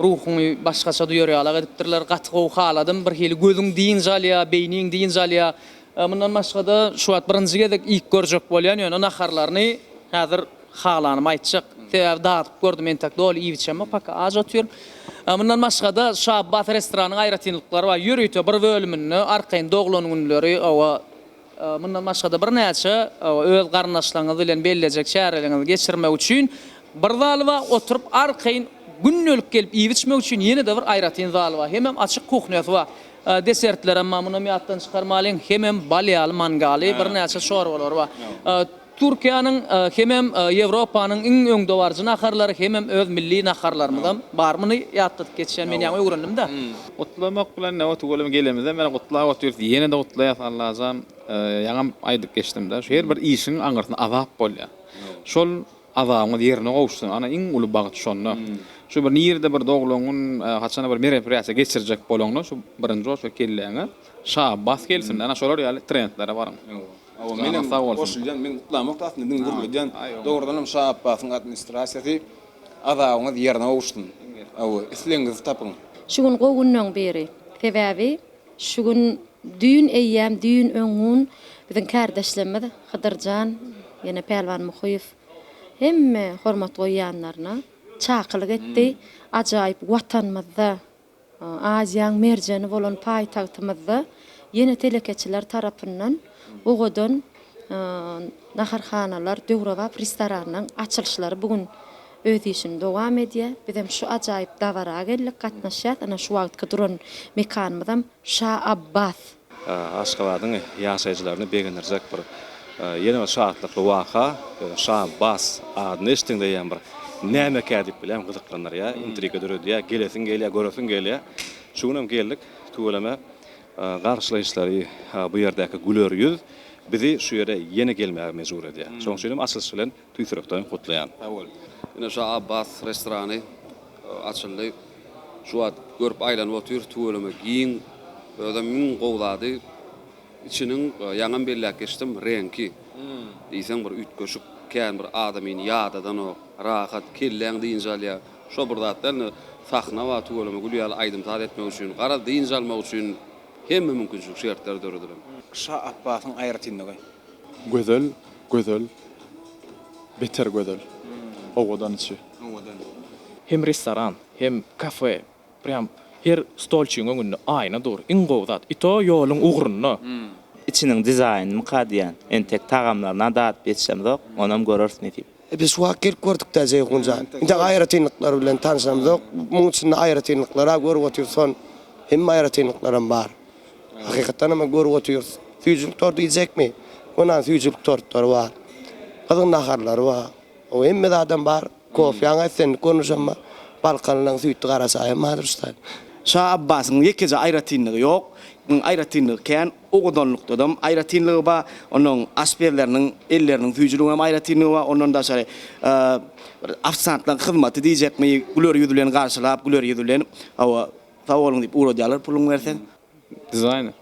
Ruhuňy başgaça duýar ýalak edipdirler. Gaty gowy haladym. Bir hili gözüň dynç alýar, beýniň dynç alýar. Mundan başga-da, şu wagt birinji gezek iýip görjek bolýan, ýöne naharlaryny häzir halanymy aýtjak. Sebäbi dadyp gördüm, entek doly iýibiçemok, paka aç otyryn. Mundan başga-da, şu Abbas restoranyň aýratynlyklary bar. Ýörite bir bölüminde arkaýyn doglan günleri, hawa, Mundan başga-da birnäçe öz garyndaşlaryňyz bilen bellejek çäreleriňizi geçirmek üçin bir zal bar, oturyp arkaýyn gündelik gelip iýip-içmek üçin ýene-de bir aýratyn zal bar, hemem açyk kuhnýasy bar. Desertlerem bar, munam ýatdan çykarmalyň, hemem bal ýaly mangaly, birnäçe çorbalary bar. Türkiýäniň hemem Ýewropanyň iň öňdebaryjy naharlary hemem öz milli naharlarymyzam bar. Muny ýatladyp geçýän men ýaňy öwrendim-de. Gutlamak bilen näme welin gelemizem ýene gutlap otyrys ýene-de gutlaýas Allajan ýaňam aýdyp geçdim-de şu her bir işiň aňyrsynda azap bolýar. Şol azabyňyz ýerine gowuşsyn ana iň uly bagt şonda. Şu bir nirede bir doglan gün haçanda bir mereprýasiýa geçirjek bolaňda şu birinji bolsa kelläňe şabbas gelsin ana şolar ýaly trendlere baryň. Menem goşulýan, men gutlamok aslynda, diňe gürledýän. Dogrudanam Şa Apbasyň administrasiýasy azabyňyz ýerine gowuşsyn. Hawa, islegiňizi tapyň. Şu gün gowy günden biri. Sebäbi şu gün düýn eýýäm düýn öň gün biziň kärdeşlerimiz Hydyrjan ýene Pälwan Muhyýew hemme hormat goýýanlaryna çakylyk etdi. Ajaýyp watanymyzda Aziýaň merjeni bolan paýtagtymyzda ýene telekeçiler tarapyndan owadan naharhanalar, döwrebap restoranlaryň açylyşlary bu gün öz işini dowam edýär. Biz hem şu ajaýyp dabara geldik, gatnaşýas. Ana şu wagtky duran mekanymyzam Şa Abbas Aşgabadyň ýaşaýjylaryny begendirjek bir ýene bir şatlykly waka, Şabass adyny eşitdiňde eýýäm bir nämekä diýip bilýän gyzyklandyrýar, intriga döredýär, gelesiň gelýär, göresiň gelýär. Şu gün hem geldik, tüweleme garşylaýyşlary bu ýerdäki güler ýüz bizi şu ýere ýene gelmäge mejbur edýär. Şonuň üçin hem açylyş bilen Tüýsürekden gutlaýan. Sag bol. Ine şo Abbas restorany açyldy. Şu wagt görüp aýlanyp otyr. Tüweleme giň. Özem iň gowy zady içiniň ýaňam belläp geçdim reňki. Diýseň bir üýtgeşik kän bir adamyny ýadadanok. Rahat kelläň dynç alýa. Şo bir zat däl indi sahna bar tüweleme gül ýaly aýdym saz etmek üçin. Garaz dynç almak üçin hemme mümkinçilik şertler döredilen. Şa Abbasyň aýratynlygy. Gözel gözel beter gözel owadan içi. Owadan. Hem restoran hem kafe prýam her stolçygyň öňünde aýna dur iň gowy zat i to ýoluň ugrunda. Içiniň dizaýnymyka diýýän. Entek tagamlaryna dadyp ýetişemzok, onam göreris nesip. Biz şu wagt gelip gördükdä Jeýhun jan. Indi aýratynlyklary bilen tanşamzok. Muň içinde aýratynlyklary-a görüp otyrys son hemme aýratynlyklaram bar. Hakykatdanam görüp otyrys. Süýjülik tort diýjekmi? Onam süýjülik tortlary bar. Gyzyň naharlary bar. O hemme zadam bar. Kofýaň islendik görnüşem bar. Balkanlylaryň süýtli gara çaýam bardyr şu taýdan. Şa Abbasyň ýekeje aýratynlygy ýok. Aýratynlygy kän. Owadanlykdadam aýratynlygy bar. Onuň aşpezleriniň elleriniň süýjüligiň hem aýratynlygy bar. Ondan daşary ofisantlaryň hyzmaty diýjekmi, güler ýüz bilen garşylap, güler ýüz bilen, hawa, Sag boluň diýip ugradýarlar puluňy berseň. Dizaýner.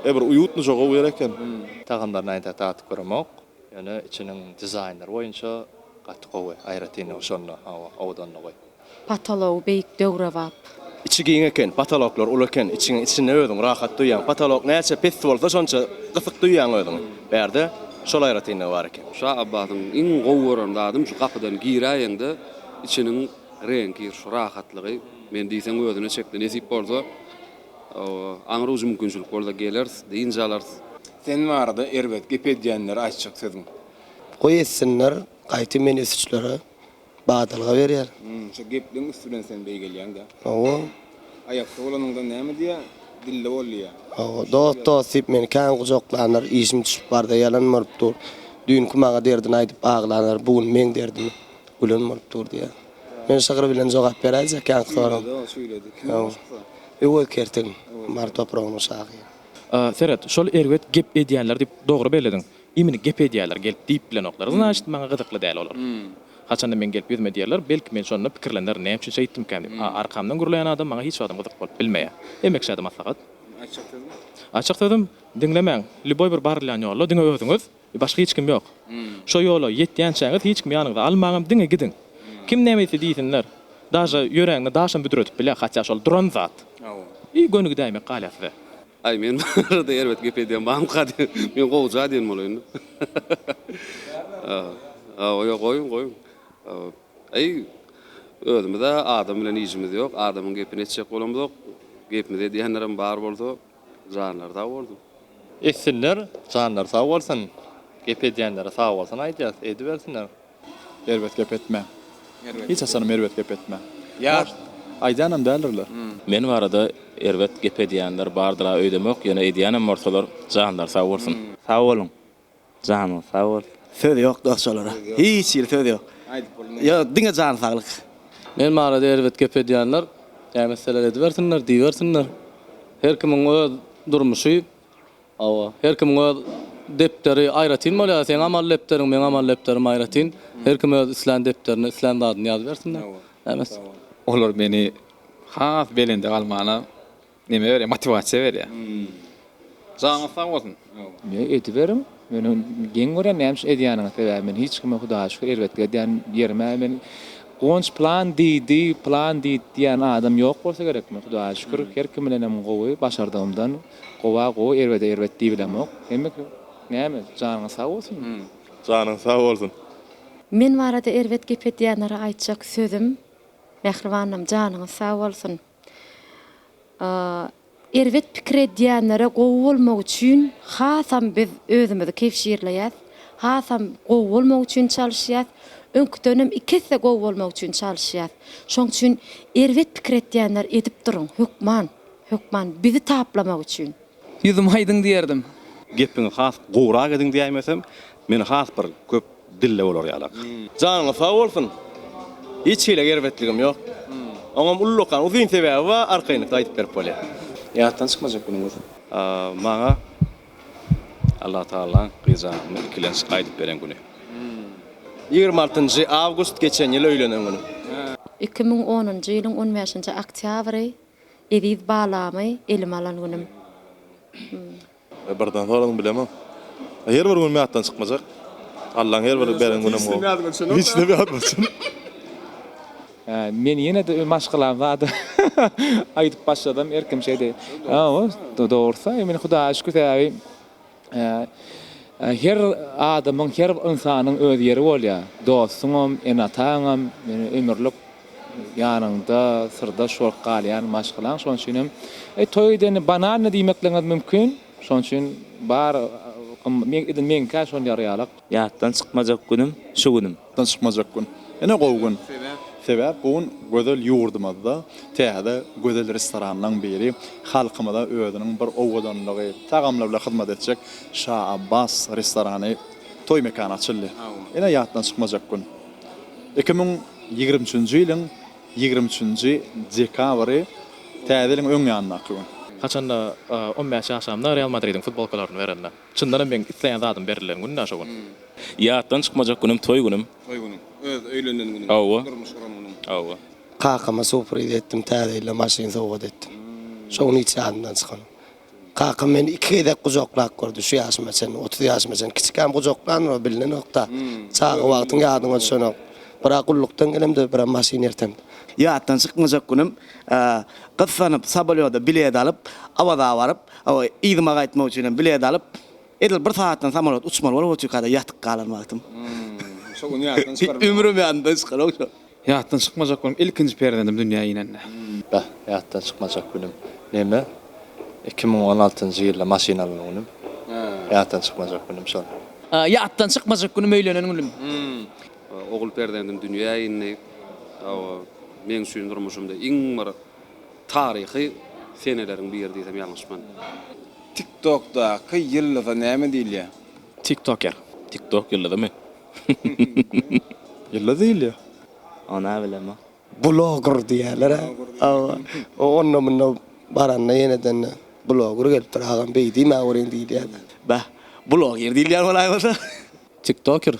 E bir uýutlyja gowy ýer eken. Tagamlaryny aýyntak datyp göremok. Ýöne içiniň dizaýnlary boýunça gaty gowy, aýratyn oşanda hawa owadanda goý. Potology beýik döwrebap. Içi giň eken, potoloklar uly eken, içiň içinde özüňi rahat duýýaň. Potolok näçe pes bolsa şonça gysyk duýýaň özüňi. Bärde şol aýratynlygy bar eken. Şa Abbasyň iň gowy gören zadym şu gapydan giräýeňde içiniň reňki şu rahatlygy. Men diýseň özüne çekdi. Nesip bolsa, aňry ucy mümkinçilik bolsa geleris, dynç alarys. Sen barada erbet gep edýänlere aýtjak sözüň? Goý etsinler, gaýtam meni ötüşlere badalga berýär. Şo gepligiň üsti bilen sen beý gelýäň-dä. Hawa. Aýakda bolanyňda näme diýýär? Dilde bol diýýär. Hawa. Dost, dost diýip meni kän gujaklanlar, işim düşüp barda ýalan bolup dur. Düýnki maňa derdini aýdyp aglanlar, bu gün meň derdimi. Gülen bolup dur diýýä. Men şygyr bilen jogap beräýjek ýaňky soraga. Şeýle-de o şeýledi. Kim ol başga? Öwez Kertiň, Mary topragynyň şahyry. Seret, şol erbet gep edýänler diýip dogry bellediň. Imini gep edýärler gelip diýip bilenoklar. Znaçt, maňa gyzykly däl olar. Haçanda men gelip ýüzüme diýerler, belki men şonda pikirlenerin, näme üçin şeýtdimkäm diýip. A arkamdan gürleýän adam maňa hiç wagtam gyzyk bolup bilmeýär. Emma kişä-de maslahat. Aýtjak sözüm? Aýtjak sözüm, diňlemäň, lýuboý bir barylýan ýolda diňe özüňiz, Başga hiç kim ýok. Şo ýola ýetýänçäňiz hiç kimi ýanyňyza almaňam, diňe gidiň. Kim näme diýse diýsinler, daže ýörägine daşam büdretip bilýär, hatýa şol duran zat. I gönügi däýmek galýar size. Aý men barada erbet gep edýän bamyka diýip, men gowja diýen bolaýyn. Hawa, ýok, goýuň, goýuň. Aý, özümiz-ä adam bilen işimiz ýok, adamyň gepini etjek bolamzok. Gepimizi edýänlerem bar bolsa, Janlary sag bolsun. Etsinler janlary sag bolsun. Gep edýänlere sag bolsun aýdýas. Edibersinler. Erbet gep etme. Hiç haçanam erbet gep etme. Ýaş aýdýanam däldirler. Men barada erbet gep edýänler bardyra öýdemok ýöne edýänem bolsalar janlary sag bolsun. Sag boluň. Janyň sag bolsun. Söz ýok dos şolara hiç hili söz ýok ýa diňe jany saglyk. Men barada erbet gep edýänler kä messeler edibersinler diýibersinler her kimiň öz durmuşy hawa her kimiň öz depderi aýratyn bolýar seň amal depderiň meň amal depderim aýratyn her kim öz islän depderine islän zadyny ýazybersinler kä mes. Olar meni has belende galmana Neme berýär? Motiwasiýa berýär. Janyňyz sag bolsun. Ýa ediberiň. Men geň görýän näme üçin edýäniňi. Sebäbi men hiç kime Hudaýa şükür erbetlik edýän ýerim he. Men Gonç plan diýdi, plan diýdi diýýän adam ýok bolsa gerek. Men Hudaýa şükür her kim bilenem gowy, başardygymdan gowa gowy, erbede erbet diýibilemok. Hemme kim näme? Janyňyz sag bolsun. Janyň sag bolsun. Men barada erbet gep edýänlere aýtjak sözüm Mähribanym janyňyz sag bolsun. Erbet pikir edýänlere gowy bolmak üçin hasam biz özümizi kebşirleýäs, hasam gowy bolmak üçin çalyşýas, öňküdenem iki esse gowy bolmak üçin çalyşýas. Şoň üçin erbet pikir etýänler edip duruň, hökman, hökman bizi taplamak üçin. Ýüzüme aýdyň diýerdim. Gepiňi has gowrak ediň diýäýmesem, men has bir köp dilli bolar ýalak. Janyňyz sag bolsun. Hiç hili erbetligim ýok. Oňam ullakan uzyn sebäbi bar, arkaýynlykda aýdyp berip bolýar. Ýatdan çykmajak günüňiz. Maňa Allah Tagalaň gyzjagazymy ikilenç gaýdyp beren güni. Ýigrimi altynjy awgust geçen ýyl öýlenen günüm. Iki müň onunjy ýylyň on bäşinji oktýabry Eziz balamy elime alan günüm. Hum. Birden soradyň bilemok. Her bir günüm ýatdan çykmajak. Allaň her bir beren günüm gowy. Hiç näme ýadyma düşenok. Men ýene-de öz maşgalam zady aýdyp başladym. Erkim şeýdi. Dogrusy, men Hudaýa şükür sebäbi. Her adamyň, her ynsanyň öz ýeri bolýar. Dostuňam, ene-ataňam, ömürlik ýanyňda syrdaş bolup galýan maşgalaň. Şonuň üçin hem toý edeni banalnyý diýmekligiňiz mümkin. Şonuň üçin bar, edil meňkä şol ýarýarlyk. Ýatdan çykmajak günüm, şu günüm. Ýatdan çykmajak gün. Ine gowy gün. Sebäp bu gün gözel ýurdumyzda täze gözel restoranlaryň biri, halkymyza özüniň bir owadanlygy, tagamlary bilen hyzmat etjek Şa Abbas restorany, toý mekany açyldy. Ine ýatdan çykmajak gün. Iki müň ýigrimi üçünji ýylyň ýigrimi üçünji dekabry, täze ýylyň öň ýanyndaky gün. Haçanda on bäş ýaşamda Real Madridiň futbolkalaryny berende. Çyndanam meň isleýän zadym berilen gün-dä şo gün. Ýatdan çykmajak günüm toý günüm. Toý günüm. Öz öýlenen günüm. Hawa. Durmuş guran günüm. Hawa. Kakama surpriz etdim, täze ýyla maşyn sowgat etdim. Şo gün hiç ýadymdan çykan. Kakam meni iki gezek gujaklap gördi şu ýaşyma çenli, otuz ýaşyma çenli. Kiçikäm gujaklandyr-ow, bilinenok-da. Çaga wagtyň ýadyňa düşenok. Bir-ä gullukdan gelemde, bir-ä maşyn ertemde. Ýatdan çykmajak günüm, gyssanyp Sobolýoda bilet alyp, Awaza baryp, Yzyma gaýtmak üçin hem bilet alyp, edil bir sagatdan samolýot uçmaly bolup otyka-da ýatyp galan wagtym. Şo gün ýatdan çykarmady. Ömrüm ýadymdan çykanok şo. Ýatdan çykmajak günüm, ilkinji perzendim dünýä inende. Beh, ýatdan çykmajak günüm. Neme, iki müň on altynjy ýylda maşyn alan günüm. Ýatdan çykmajak günüm şol. Ýatdan çykmajak günüm, öýlenen günüm. Ogul perzendim dünýä indi. Hawa, meň üçin durmuşymda iň bir. Taryhy seneleriň biri diýsem ýalňyşman. Tiktokdaky ýyldyza näme diýilýär? Tiktoker. Tiktok ýyldyzymy? Ýyldyz diýilýär. Ony a bilemok. Bloger diýýärler a. Hawa. O onda munda baranda ýenedende bloger gelipdir agam beý diýmä görýin diýilýär. Bäh. Bloger diýilýär bolaý bolsa. Tiktoker.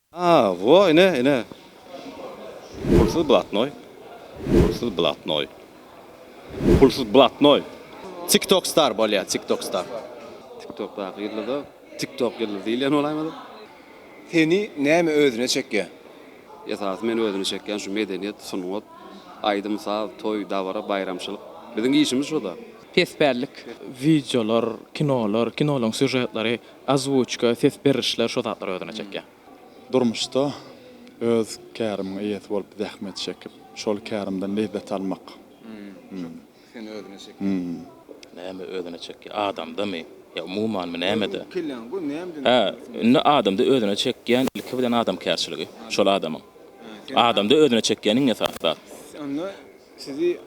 A, wo, ine, ine. Pulsyz blatnoý. Pulsyz blatnoý. Pulsyz blatnoý. Tiktok star bolýa, tiktok star. Tiktokdaky ýyldyza tiktok ýyldyzy diýilýän bolaýmady. Seni näme özüne çekýä? Esasy meni özüne çekýän şu medeniýet, sungat, aýdym, saz, toý, dabara, baýramçylyk. Biziň işimiz şo-da. Pespällik. Wideolar, kinolar, kinolaryň sýužetlary Ozwuçka, ses berlişler şo zatlary özüne çekýär. Durmuşda öz kärimiň eýesi bolup zähmet çekip, şol kärimden lezzet almak. Seni özüne çekýär. Näme özüne çekýär? Adamdamy? Ýa umumanmy? Nämede? Hä, indi adamda özüne çekýän ilki bilen adamkärçiligi, şol adamyň. Adamda özüne çekýän iň esasy zat. Sizi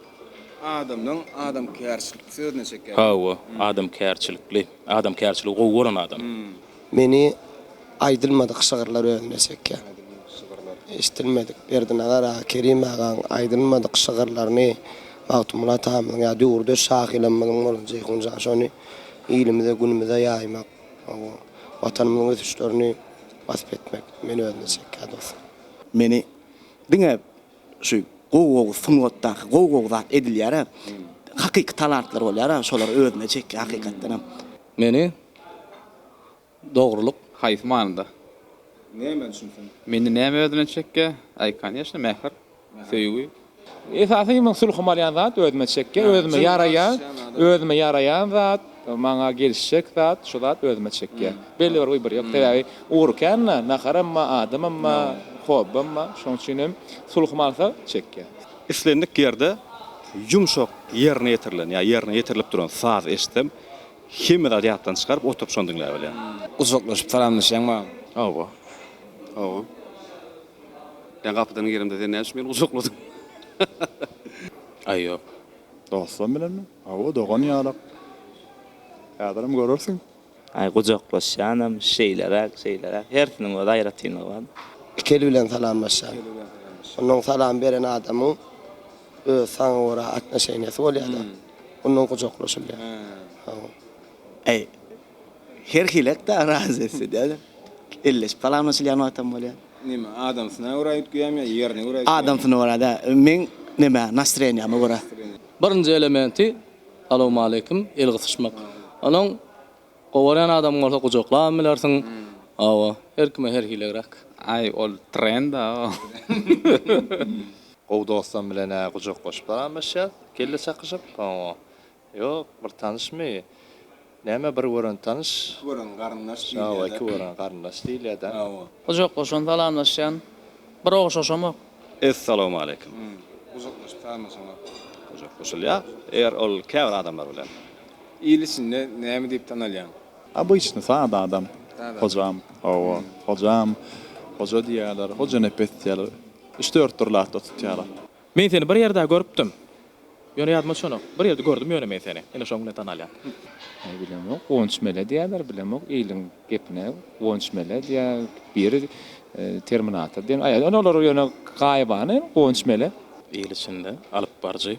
adamdan adamkärçilik sözüne çeker. Hawa, adamkärçilikli. Adamkärçiligi gowy gören adam. Meni aýdylmadyk şygyrlar özüne çekýär. Aýdylmadyk şygyrlar. Eşidilmedik. Berdinazar aga, Kerim agaň aýdylmadyk şygyrlaryny Magtymguly atamyzyň ýa döwürdeş şahyrlarymyzyň bolan Jeýhun jan şony ilimize, günümize ýaýmak, hawa, Watanymyzyň ösüşlerini wasp etmek meni özüne çekýär dostlar. Meni diňe Şu gowy-gowy sungatdaky gowy-gowy zat edilýär-ä. Hakyky talantlar bolýar-a, şolar özüne çekýär hakykatdanam. Meni dogrulyk. Haýsy manyda? Näme üçin sen. Meni näme özüne çekýär? Aý, kanyýeşna, mähir, söýgi. Esasy men sulhum alýan zat özüme çekýär, özüme ýaraýar, özüme ýaraýan zat. Maňa gelişjek zat şu zat özüme çekýär. Belli bir wybor ýok. Sebäbi ugur kända naharamma, adamamma, hobbymma. Şoň üçin hem sulhym alsa çekýär. Islendik ýerde ýumşak ýerine ýetirilen ýa ýerine ýetirilip duran saz eşitsem hemme zady ýatdan çykaryp oturyp şony diňläp alýan. Gujaklaşyp salamlaşýaň ba? Hawa. Hawa. Men gapydan giremde sen näçün meni gujakladyň? Aý ýok. Dostum bilenmi? Hawa dogan ýalak. Häzirem görersiň. Aý gujaklaşýanam, şeýleräk, şeýleräk. Hersiniň öz aýratynlygy bar. Iki el bilen salamlaşýan. Onuň salam beren adamyň öz saňa görä atnoşeniýasy bolýar-da. Ondan gujaklaşylýar. Hawa. Aý. Her hili et-de arazy etse däl. Elleşip salamlaşylýan wagtam bolýar. Näme, adamsyna görä üýtgeýärmi ýa ýerine görä üýtgeýärmi? Adamsyna görä däl. Meň nämä, nastreniýama görä. Birinji elementi, salowmaleýkim, el gysyşmak. Onuň gowarýan adamyň bolsa gujaklamam bilersiň. Hawa, her kime her hilegräk. Aý, ol trend-a. Gowy dostam bilen-ä gujaklaşyp salamlaşýas, kelle çakyşyp. Hawa. Ýok, bir tanyşmy? Näme bir gören tanyş? Iki gören garyndaş diýilýär-dä. Hawa, iki gören garyndaş diýilýär-dä. Hawa. Gujaklaşan salamlaşýan. Bir oguşaşamok. Essalawmaleýkim. Hum. Gujaklaşyp salamlaşamok. Gujaklaşylýar, eger ol käbir adamlar bilen. Il içinde näme diýip tanalýaň? Obyçny, sada adam. Sada. Hojam. Hawa. Hojam. Hoja diýýärler. Hojanepes diýýärler. Üç-dört dürli atda tutýarlar. Men seni bir ýerde görüpdim. Ýöne ýadyma düşenok. Bir ýerde gördüm ýöne men seni. Ine şoň bilen tanalýan. Aý bilemok. Gonç mele diýýärler. Bilemok. Iliň gepine Gonç mele diýýär. Biri Terminator diýen. Aý ine olar ýöne gaýybana Gonç mele. Il içinde alypbaryjy.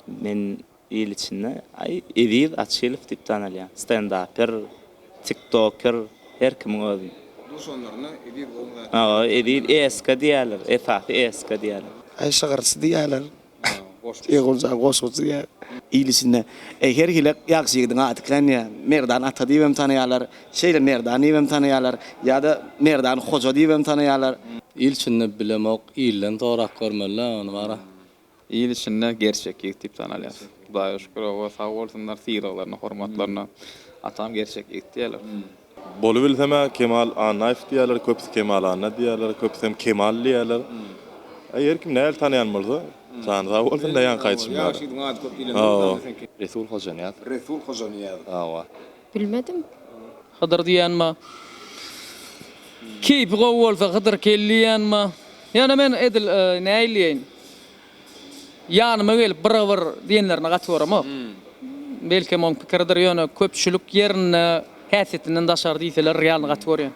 Men Il içinde Aý, Eziz Açylow diýip tanalýar. Stendaper, tiktoker, her kimiň özi. Duşanlaryna Eziz gowyň zady. Hawa, Eziz eska diýýärler, esasy eska diýýärler. Aý, şygyrçy diýýärler. Eguljan, goşguçy diýýärler. Il içinde Aý, her hili ýagşy ýigidiň ady kän diýýär. Merdan ata diýip hem tanaýarlar. Şeýle Merdan diýip hem tanaýarlar. Ýa-da Merdan hoja diýip hem tanaýarlar. Il içinde bilemok, ilden sorap görmeli-dä ony bara. Il içinde gerçek ýigit diýip tanalýas. Hudaýa şükür oba sag bolsunlar sylaglaryna hormatlaryna atam gerçek ýigit diýerler. Bolubilsem-ä Kemal Annaýew diýerler, köpüsi Kemal Anna diýerler, köpüsem Kemal diýerler. Aý her kim nähili tanaýan bolsa. Jany sag bolsun daýanka aýdyşym ýaly. Hawa. Resul Hojanyýaz. Resul Hojanyýaz. Hawa. Bilmedim. Hydyr diýýänma. Keýpi gowy bolsa Hydyr kel diýýänma. Ýöne men edil näýleýin. Ýanyma gelip byra-byr diýenlerine gaty goramok. Belkem oň pikiridir ýöne köpçülik ýerinde häsiýetinden daşary diýseler realny gaty görýän.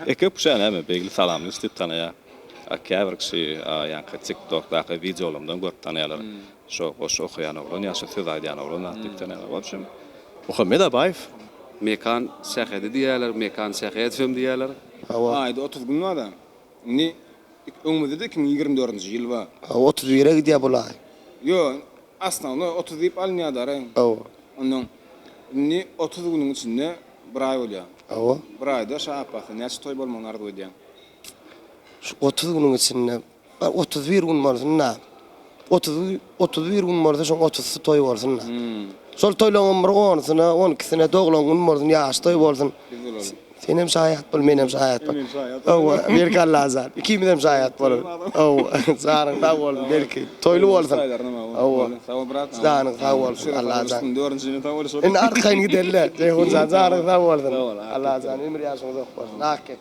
Eke küşä näme Begli Salamy üstüp tanaýar. A käbir kişi a ýaňky tik tokdaky wideolarymdan görüp tanaýarlar. Şo goşgy okaýan oglan ýa şo söz aýdýan oglan zat diýip tanalýar. Ol üçin Muhammet Abaýew. Mekan Sähedi diýýärler, Mekan Sähedowem diýýärler. Hawa. Aýda otuz gün bar-a. Indi öňümizde-de iki müň ýigrimi dördünji ýyl bar. Hawa, otuz bire gidýär bulaý. Ýo, osnownoý otuz diýip alynýar daraý. Hawa. Onnoň indi otuz günüň içinde bir aý bolýar. Hawa. Bir aýda şa Apbasda näçe toý bolmagyny arzuw edýäň? Şu otuz günüň içinde Otuz bir gün bolsun-da. Otuz, otuz bir gün bolsa, şoň otuzysy toý bolsun-da. Şol toýlaryň bir onusyna, on ikisine doglan gün bolsun, ýaş toý bolsun. Biz bolalyň. Senem şaýat bol, menem şaýat bol. Menem şaýat bol. Hawa, belki Allajan, ikimizem şaýat bolarys. Hawa, janyň sag bolsun, belki, toýly bolsun. Hawa. Sag bol, brat. Janyň sag bolsun, Allajan. Dördünjini sawoluşarys. Indi arkaýyn giderler. Jeýhunjan, janyň sag bolsun. Sag bol, Allajan, ömür-ýaşyň uzak bolsun, ak ýet.